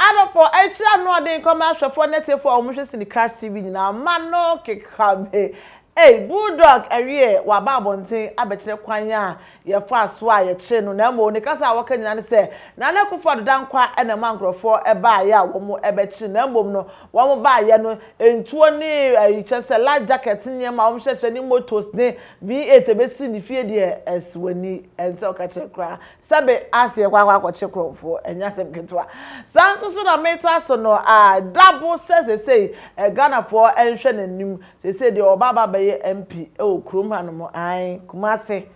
Adɔfo, ɛnkyerɛ anoɔden nkɔ me ahwɛfoɔ ne atiefoɔ a wɔhwɛ Cinecast TV nyinaa mma no keka me. Ei, Bulldog awie waba abɔnten abɛkyerɛ kwan a yɛfaa so a yɛkyee no na mmom ne kasa a wɔka nyinaa ne sɛ Nana Akuffo Addo Dankwa na ɛmaa nkurɔfoɔ baeɛ a wɔbɛkye no na mmom no wɔn baeɛ no ntuo ne ayi kyerɛ sɛ life jacket nneɛma a wɔhyehyɛ ne motos ne V8 ɛbɛsi ne fie deɛ ɛsɛ w'ani ɛnsɛ woka kyerɛ koraa Sɛ me aseɛ kɔ akɔ akɔkye korɔmfoɔ ɛnyɛ asɛm ketewa. Saa nso so na meto aso no aa da bo sɛ sesei ɛ Ghanafoɔ nhwɛ nanim sesei deɛ ɔba aba abɛyɛ MP wɔ kurom hanom ae Kumase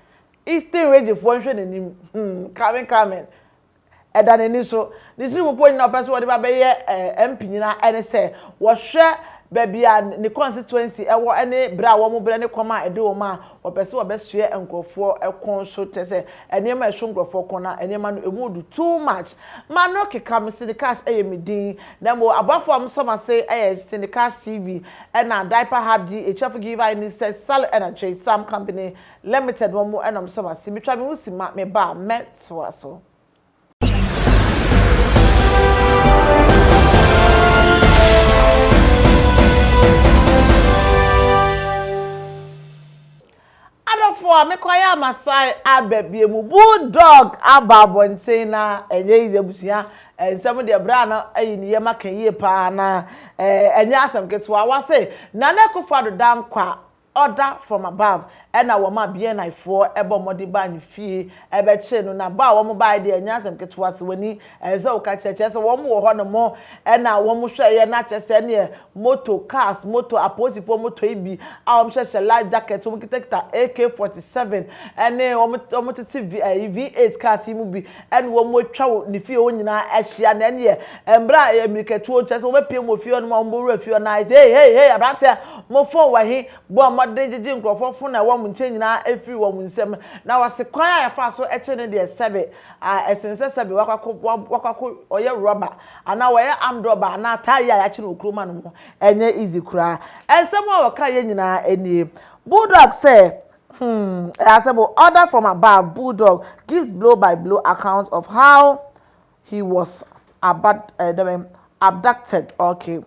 Eastern Region foɔ nhwɛ nanim hmm coming coming ɛda nani so ne tiri mu po nyina ɔpɛ sɛ wɔde ba bɛyɛ ɛ MP nyina ɛne sɛ wɔhwɛ baabi a ne constituency ɛwɔ ɛne brɛ a wɔn brɛ ne kɔm a ɛde wɔn a Wɔpɛ sɛ wɔbɛsoɛ nkurɔfoɔ kɔn so kyerɛ sɛ nneɛma a ɛso nkurɔfoɔ kɔn na nneɛma no ɛmu du too much ma no keka me Cineclash yɛ me din na mmom aboafoɔ a wɔsɔ m'ase yɛ Cineclash TV ɛna Diaper Hub di akyirefo Giver Ini sɛ Sally ɛna Jay Sam Company Limited wɔn na wɔsɔ m'ase metwa me ho si ma me ba a mɛtoa so. adɔfo a mekɔ ayɛ amasae aba bie mu bulldog aba abɔnten na ɛnyɛ yiye abusua nsɛm deɛ berɛ a na ayi ne yam aka yie paa na ɛnyɛ asɛm ketewa wase nana akufo ado dankwa Order from above ɛna wɔmaa BNI foɔ bɔ mmɔden baa ne fie bɛkyee no na bɔ a wɔn baeɛ deɛ ɛnyɛ asɛm ketewa sɛ w'ani ɛsɛ sɛ woka kyerɛ kyerɛ sɛ wɔn wɔ hɔ nom na wɔn hwɛeɛ na kyerɛ sɛ ɛneɛ moto cars moto apolisifoɔ moto yi bi a wɔn hyɛ hyɛ life jacket wɔn kita kita AK 47 ɛne wɔn wɔn tete V8 cars yi mu bi ɛne wɔn atwa wɔ ne fie hɔ nyinaa ahyia, na ɛneɛ mmerɛ a mmirikatuo, kyerɛ sɛ wɔbɛpiem wɔ fie hɔ nom a wɔbɛwura fie hɔ no ara, Hei, hei, hei, aberanteɛ, mo fon wɔ he? bɔ mmɔden gyegye nkurɔfoɔ fon a ɛwɔ wɔn nkyɛn nyinaa firi wɔn nsam, na wɔse kwan a yɛfaa so kyee no deɛ sɛbe a ɛsene sɛ sɛbe wakɔ akɔ ɔyɛ rɔba anaa wayɛ armed rɔba anaa taa yi a yɛakye no wɔ kurom anom hɔ, ɛnyɛ easy koraa. Nsɛm a wɔkaeɛ nyinaa nie. Bulldog sɛ, Hmm, Easebo, order from above, Bulldog, gives blow by blow account of how he was abad, eh, dɛ bɛn, abducted, ok.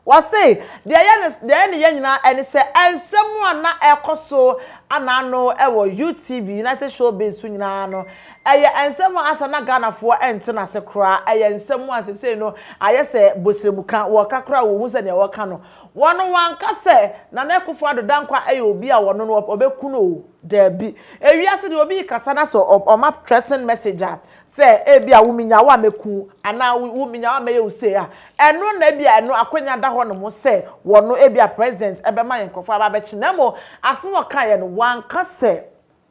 Wɔse, deɛ ɛyɛ ne, deɛ ɛyɛ ne ya nyinaa ɛne sɛ, nsɛm a na ɛrekɔ so an'ano wɔ UTV, United Showbiz, so nyinaa no, ɛyɛ nsɛm a ansa na Ghanafoɔ nte n'ase koraa, ɛyɛ nsɛm a sesei no ayɛ sɛ bosremuka, wɔka koraa a wɔnhu sɛ deɛ wɔreka no, Wɔno wanka sɛ Nana Akuffo Addo Dankwa yɛ obi a wɔno no ɔbɛku no o, daabi. Ewiase deɛ obi rekasa na sɛ ɔma threaten message a, sɛ ebi a wo menya wo a mɛku wo anaa wo menya wo a mɛyɛ wo sei a, ɛno na ebi a ɛno akwanya da hɔ nom sɛ wɔno ebi a President bɛma yɛn nkorɔfoɔ aba abɛkye na mmom asem a ɔkaeɛ no wanka sɛ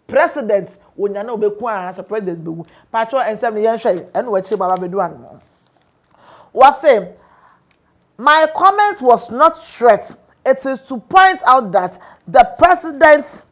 President ɔnya na ɔbɛku anaasɛ President bɛwu. Paatwɔ nsɛm no yɛnhwɛ ɛno akyire mu aba abɛdu ano no. Wɔse. My comment was not threat, it is to point out that the president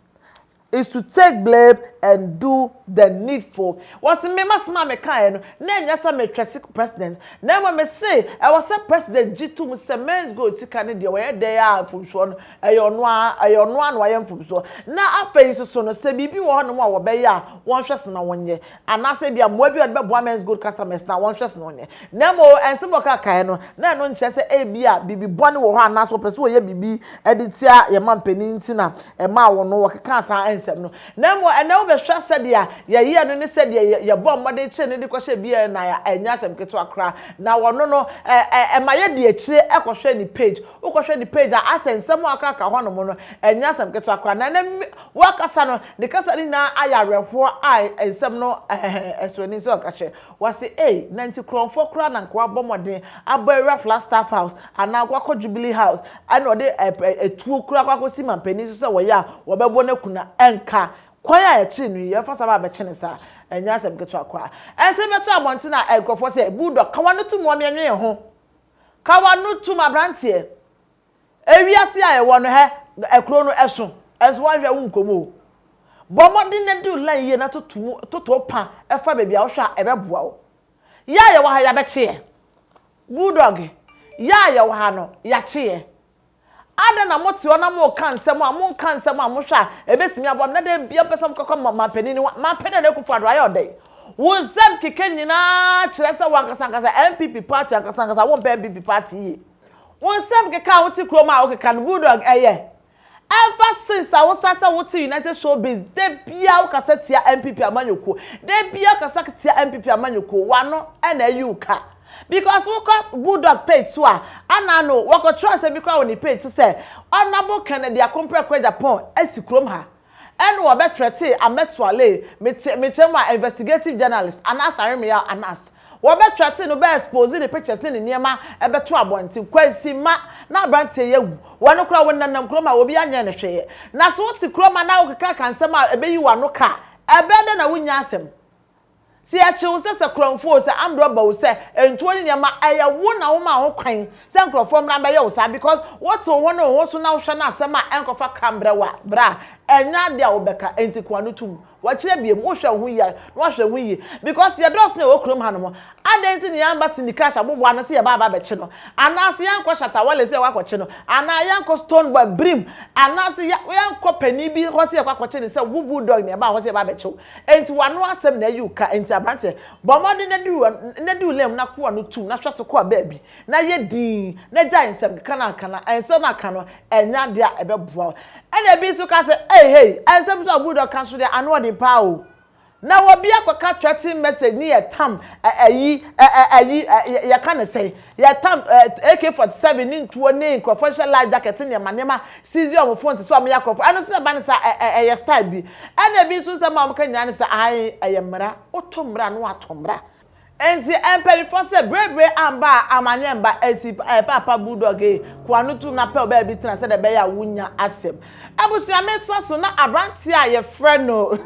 is to take blame and do the needful. Wɔse me m'asem a mekaeɛ no na ɛnyɛ sɛ me threate president na mmom mese ɛwɔ sɛ president gye to mu sɛ Men's Gold sika no deɛ wɔyɛ dɛn a mfomsoɔ no ɛyɛ ɔno ara ɛyɛ ɔno ara na wayɛ mfomsoɔ na afei nsoso no sɛ biribi wɔ hɔnom a wɔbɛyɛ a wɔnhwɛ so na wɔnyɛ Anaasɛ ebia mmoa bi a wɔde bɛboa Men's Gold customers no a wɔnhwɛ so no nyɛ. Na mmom nsɛm a wɔkaa kae no, na ɛno nkyerɛ sɛ ebia biribi bɔne wɔ hɔ anaasɛ wɔpɛ sɛ wɔyɛ biribi de tia yɛn mampanin nti na ɛmaa wɔn no wɔkekaa saa nsɛm no. Na mmom ɛnnɛ wobɛhwɛ a, sɛdeɛ yɛyɛɛ no ne sɛdeɛ yɛbɔɔ mmɔden kyeree no de kɔhyɛɛ biara nyinaa a, ɛnyɛ asɛm ketewa koraa. Na wɔno no, ɛ, ɛ, ɛma yɛdi akyire kɔhwɛ ne page. Wokɔhwɛ ne page a, asɛ nsɛm a wɔkaa kaa hɔnom no, ɛnyɛ asɛm ketewa koraa. Na ɛnnɛ, Wakasa no, ne kasa no nyinaa ayɛ awerɛhoɔ a nsɛm no sɔ ani sɛ ɔka kyerɛ. Wase ei, na nti korɔmfoɔ koraa na nka wabɔ mmɔden abɔ awura Flagstaff House anaa ɔkɔ akɔ Jubilee House ɛna ɔde atuo koraa akɔ akɔsi mampanin so sɛ wɔyɛ a wɔbɛbɔ no aku no ɛnka kwan a ɛkyere no yi yɛmfa saa ba abɛkye no saa ɛnyɛ asɛm ketewa koraa. Ɛnso yɛbɛto abɔnten a nkurɔfoɔ sɛ, Bulldog, ka w'ano tom wɔ me ɛnwee ho, ka w'ano tom aberanteɛ. Ewiase a yɛwɔ no hɛ ɛkuro no ɛso ɛnso wanhwɛ wo nkɔ mu o. Bɔ mmɔden na di wo line yie na toto mu toto pa fa baabi a wohwɛ a ɛbɛboa wo. Yɛ a yɛwɔ ha yɛabɛkye yɛ. Bulldog, yɛ a yɛwɔ ha no yɛakye yɛ. Adɛn na mote hɔ na moreka nsɛm a monka nsɛm a mohwɛ a ɛbɛtumi aboa me na da biara mopɛ sɛ mokɔka ma mampanin no ho. Mampanin Nana Akufo Addo ayɛ ɔdɛn? Wo nsɛm kɛkɛ nyinaa kyerɛ sɛ wo ankasa ankasa NPP party ankasa ankasa wompɛ NPP party yie. Wo nsɛm keka a wote kurom a wokeka no bulldog ɛyɛ ever since a wosan sɛ wote United Showbiz da biara wokasa tia NPP amanyɔkuo da biara wokasa tia NPP amanyɔkuo w'ano ɛna ayi wo ka because wokɔ bulldog page so a ana ano wɔkɔtwerɛ asɛm bi koraa wɔ ne page so sɛ Honourable Kennedy Akompreko Agyapong asi kurom ha Ɛnna wɔbɛtrɛtee Ahmed Swaleh, me te me kyɛm a investigative journalist, Anas Aremeyaw, Anas. Wɔbɛtrɛtee no, bɛ expose ne pictures ne ne nneɛma bɛtoo abɔnten. Kwansi, mma na aberanteɛ yi awu. Wɔ no koraa, wonenam kurom a obiara nyɛɛ no hwee. Na so wote kurom a na wokekakeka nsɛm a ɛbɛyi w'ano ka a, ɛbɛyɛ dɛn na wonnya asɛm? Sɛ yɛkye wo sɛ sakuranfo o, sɛ ambrɛ ɔba o, sɛ ntuo ne nneɛma, ɛyɛ wo na womaa ho kwan sɛ nkorɔfoɔ mmra mbɛyɛ wo saa because wotew wo ho ne wo ho so na wohwɛ no asɛm a ɛnkɔfa ka mbrɛ wo a, bra a, ɛnyɛ ade a wobɛka, enti koa no tum. Wɔkyerɛ biom, wohwɛ wo ho yie a, na woahwɛ wo ho yie because yɛdɔɔso na yɛwɔ kurom hanom, adɛn nti na yɛamma Cindy Cash aboboa no sɛ yɛba aba abɛkye no, anaase yɛnkɔ Shatta Wale sɛ yɛkɔ akɔkye no, anaa yɛnkɔ Stonebwoy, Birim, anaase yɛnkɔ panin bi hɔ sɛ yɛkɔ akɔkye no sɛ wo Bulldog na yɛbaa hɔ sɛ yɛba abɛkye wo. Enti w'ano asɛm na ayi wo ka enti abranteɛ bɔ mmɔden na di na di wo lane mu na koa no tum na hwɛ so koa baabi na yɛ dinn na gyae nsɛmkeka no anka na nsɛm no aka no ɛnyɛ adeɛ a ɛbɛboa wo ɛna ebi nso ka sɛ ei hei nsɛm nso a Bulldog ka nso deɛ ano ɔden paa o na wɔbi akɔka threatening message ne yɛ tam ɛ ayi ɛ ayi ɛ yɛka ne sɛn Yɛtam AK 47 ne ntuo ne nkurɔfoɔ hyehyɛ life jacket nneɛma nneɛma seize wɔn phones sɛ wɔyɛ akorɔmfo ɛno nso ɛba ne saa ɛ ɛ ɛyɛ style bi ɛna ebi nso nsɛm a wɔka nyinaa ne sɛ ae ɛyɛ mmara woto mmara na wɔato mmara enti mpanyinfoɔ sɛ birebire amba a amaneɛ mba enti ɛɛ paapa bulldog ee ko ano to mu na pɛw baabi tena sɛdeɛ ɛbɛyɛ a wonya asɛm abusua metra so na abranteɛ a yɛfrɛ no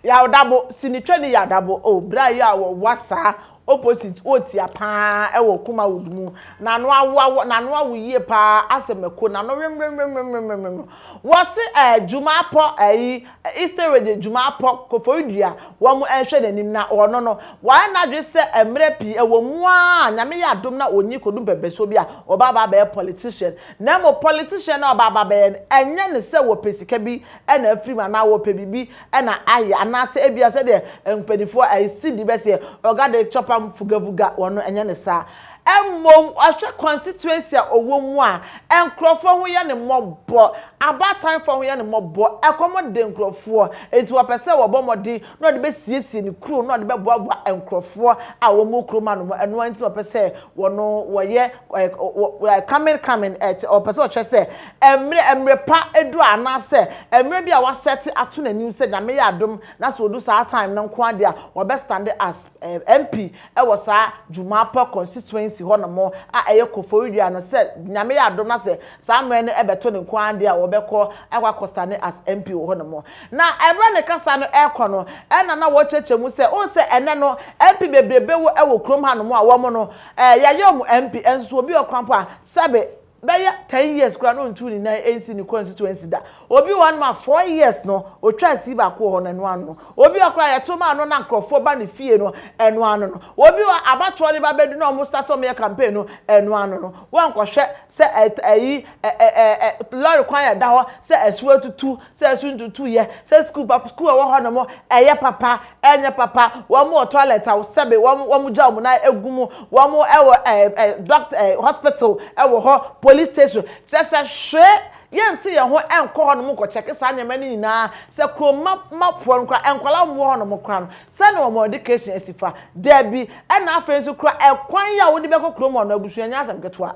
Yaw Dabo si ne twani Yaw Dabo oh bere a yɛ a wɔwa saa Opposite wɔ tia paa ɛwɔ kuma wood mu nano awo awo nano awo yie paa asɛ mako nano wemremremremremrem wɔse ɛɛ dwuma apɔ ɛyi eastern region dwuma apɔ koforidua wɔn ɛnhwɛ nanim na ɔno no wayɛ nadwe sɛ ɛmrɛ pii ɛwɔ mu aa nyame yɛ adom na ɔnyi kɔdu mpɛmpɛsoɔ bi a ɔba aba abɛyɛ politician na mmom politician na ɔba aba abɛyɛ no ɛnyɛ ne sɛ wɔpɛ sika bi ɛna afiri mu anaa wɔpɛ biribi na ayɛ anaasɛ ebia sɛdeɛ mpaninfoɔ ayi sidi bɛseɛ ɔga de chɔpa mfugafuga wɔn no ɛnyɛ ne saa mmom ɔhwɛ constituency a ɔwɔ mu a nkorɔfoɔ ho yɛ ne mmɔbɔ abaatanfoɔ ho yɛ ne mmɔbɔ ɛkɔm de nkorɔfoɔ nti ɔpɛ sɛ ɔbɔ mmɔden na ɔde bɛsiesie ne kuro na ɔde bɛboaboa nkorɔfoɔ a wɔn wɔ kurom anom ɛno ara nti na ɔpɛ sɛ wɔn wɔyɛ coming coming ɔpɛ sɛ ɔkyerɛ sɛ Mmerɛ, mmerɛ pa aduru anaa sɛ mmerɛ bi a wasɛte ato n'anim sɛ Nyame yɛ adom na sɛ ɔdu saa time no nko ara deɛ a wabɛstande as MP wɔ saa Jumapɔ constituency hɔ nom a ɛyɛ Koforidua no sɛ Nyame yɛ adom na sɛ saa mmerɛ no bɛto no nko ara deɛ a ɔbɛkɔ akɔ akɔstande as MP wɔ hɔ nom na mmerɛ ne kasa no rekɔ no ɛna na wɔrekyerɛkyerɛ mu sɛ wohu sɛ ɛnɛ no MP bebrebe wɔ wɔ kurom ha nom a wɔn no yɛayɛ wɔn MP nso sɛ obi wɔ kwan mpo a sɛbe bɛyɛ ten years koraa na ɔntuu ne nan ɛnsi ne constituency da, obi wɔ hɔ nom a four years no ɔtwaa sii baako wɔ hɔ no ɛno ano no, obi wɔ hɔ koraa yɛto ma no na nkorɔfoɔ ba ne fie no ɛno ano no, obi wɔ hɔ abatoɔ no ba bɛdu na wɔn start sɛ wɔyɛ campaign no ɛno ano no, woankɔhwɛ sɛ ɛyi ɛ ɛ ɛ lorry kwan a ɛda hɔ sɛ asuo atutu sɛ su ntutuiɛ, sɛ sukuu papa, sukuu a ɛwɔ hɔ nom ɛyɛ papa, ɛnyɛ papa, wɔn wɔ toilet a sɛbe wɔn wɔn gya wɔn nan egu mu, wɔn ɛwɔ ɛɛ ɛɛ doctor ɛɛ hospital ɛwɔ hɔ, police station, kyerɛ sɛ hwee yɛnte yɛn ho ɛnkɔ hɔ nom nkɔ kyɛke saa nneɛma no nyinaa, sɛ kurom mma mma foɔ no koraa nkwadaa a wɔn wɔ hɔ nom koraa no sɛn na wɔn education asi fa? Dabi, ɛna afei nso koraa ɛkwan yi a wode bɛkɔ kurom hɔ no abusua nyɛ asɛm ketewa.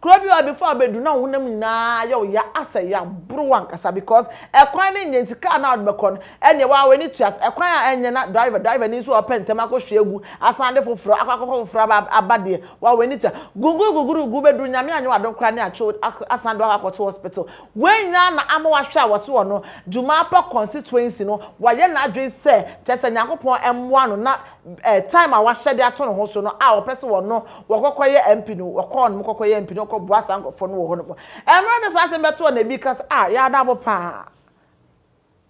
Kuro bi hɔ before bɛduru na wo honam nyinaa ayɛ wo ya asɛ ya boro wo ankasa because ɛkwan no nyɛ nti car no a wode bɛkɔ no ɛneɛ wo ara w'ani tua sɛ ɛkwan a ɛnyɛ na driver driver ni nso ɔpɛ ntɛm akɔ hwie agu asan de foforɔ akɔ akɔkɔ foforɔ aba aba deɛ wo ara w'ani tua guguru guguru gu bɛduru nyame anyɛ w'adom koraa ne atwe wo akɔ asan de wo akɔ to hospital wei nyinaa na ama wahwɛ a wɔse ɔno Jumaapa constituency no wayɛ n'adwene sɛ kyɛsɛ Nyankopɔn mmoa no na eh, time a wahyɛ de ato ne ho so no a wɔpɛ sɛ wɔno wɔkɔkɔyɛ MP no, wɔkɔɔ nom kɔkɔyɛ MP no, wɔkɔboa saa nkurɔfoɔ no wɔ hɔ nom. Mmerɛ de saa asɛm bɛtoɔ na ebi ka sɛ, ah, yaa Dabo paa.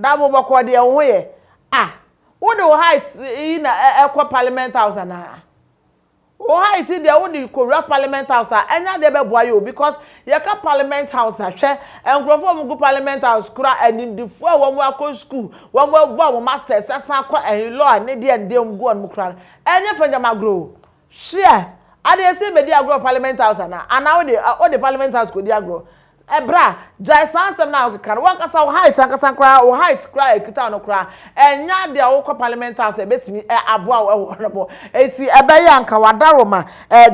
Dabo bɔkɔɔ deɛ wo ho yɛ. Ah, wode wo height yi na ɛkɔ Parliament House anaa? Wo height deɛ wo de kowura parliament house a ɛnyɛ adeɛ bɛboa yɛ o because yɛ ka parliament house a hwɛ nkorɔfoɔ a wɔn gu parliament house koraa animdefoɔ a wɔn akɔ school wɔn abɔ wɔn masters asan akɔ ɛhe law ne deɛ ne deɛ wɔn gu hɔ nom koraa no ɛnyɛ fɛngyam agorɔ o hweɛ ade ɛsɛ bɛdi agorɔ wɔ parliament house anaa anaa wo de wo de parliament house kɔ di agorɔ Bra, gyae saa nsɛm no a wokeka no, w'ankasa wo height ankasa koraa, wo height koraa a ɛkita wo no koraa, ɛnyɛ adeɛ a wokɔ Parliament House a ɛbɛtumi aboa wo wɔ hɔ nom. Enti ɛbɛyɛ a anka w'adaroma,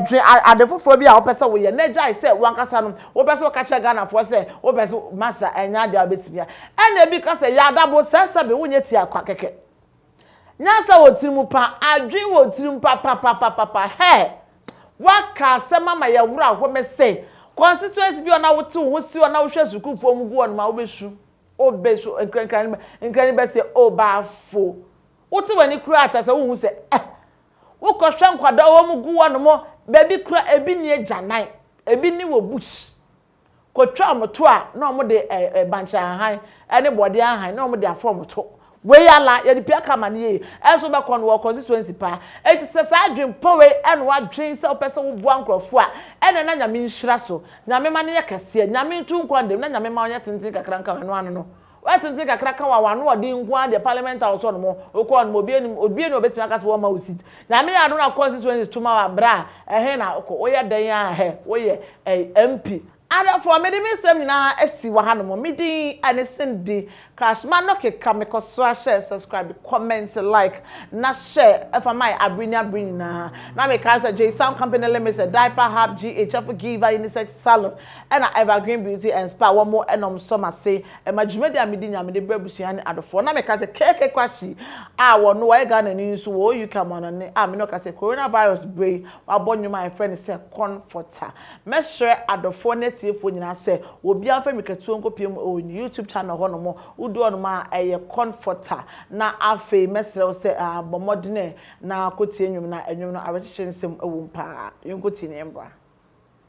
dwe ade foforɔ bi a wopɛ sɛ woyɛ na gyae sɛ w'ankasa no wopɛ sɛ woka kyerɛ Ghanafoɔ sɛ wopɛ sɛ, masa, ɛnyɛ adeɛ a wobɛtumi a. Ɛna bi ka sɛ, Yɛ adabo, sɛsɛbe, wonyɛ tiaa kwa kɛkɛ. Nyansa wɔ tirim pa, adwene wɔ tirim papapapapa hɛɛ! W'aka asɛm ama yɛ wora hɔ mɛ sɛ constituency bi hɔ na wo te wo ho si hɔ na wo hwɛ sukuu foɔ mu gu hɔ nom a wo bɛ su wo bɛ su nkra nkra no nkra no bɛ seɛ oh baafo wo te w'ani kura a kyɛ sɛ wo hu sɛ eh wo kɔ hwɛ nkwadaa hɔ mu gu hɔ nom bɛ bi kura ebi ni agyanan ebi ni wɔ bush. kɔtwa wɔn to a na wɔde ɛɛ bankye ahan ne bɔɔdeɛ ahan na wɔde afɔ wɔn to. Wei ala yɛde pii aka amane yie nso wobɛkɔ no wɔ constituency paa enti sɛ saa adwene pa wei na wadwene sɛ wopɛ sɛ woboa nkurɔfoɔ a ɛnna na Nyame nhyira so Nyame ma no yɛ kɛseɛ Nyame ntu nkɔ ndam na Nyame ma ɔnyɛ tenten kakra nka ɛno ano no W'atenten kakra ka wa w'ano ɔden nko ara deɛ parliament house hɔ nom wo kɔɔ nom obi anim obi anim obetumi aka sɛ wɔn ma wo seat nyame yɛ adom na constituencies to ma wa bra ɛhe na wokɔ wo yɛ dɛn aa hɛ wo yɛ ɛɛ MP adɔfoɔ me de me nsɛm nyinaa asi wɔ ha nom me din ɛne Cindy cash ma no keka me kɔ so ahyɛ subscribe comment like na share ɛfa ma yɛ abere ne abere nyinaa na me kae sɛ Jay sound company limited diaper hub GH ɛfo giva unisex salon. Ɛna Evergreen Beauty and Spa wɔ mo ɛna ɔmo sɔ m'ase ɛma dwumadi a medi nyinaa mede brɛ abusua ne adɔfoɔ na meka sɛ KK Kwashy a wɔ no wɔyɛ Ghana ni nso wɔ wɔ UK amanɔne a mene ɔka sɛ Corona Virus berɛ yi wabɔ nnwom a yɛfrɛ no sɛ Comforter mɛsrɛ adɔfoɔ ne atiefoɔ nyinaa sɛ wɔ biara mfa mirikatuo nkɔ pie mu wɔ YouTube channel hɔ nom wo du hɔ nom a ɛyɛ Comforter na afei mɛsrɛ wo sɛ aah bɔ mmɔdene na kɔ tie nnwom no a nnwom no awerɛkyekye nsɛm wɔ mu paa yɛnkɔ tie na yɛn bra.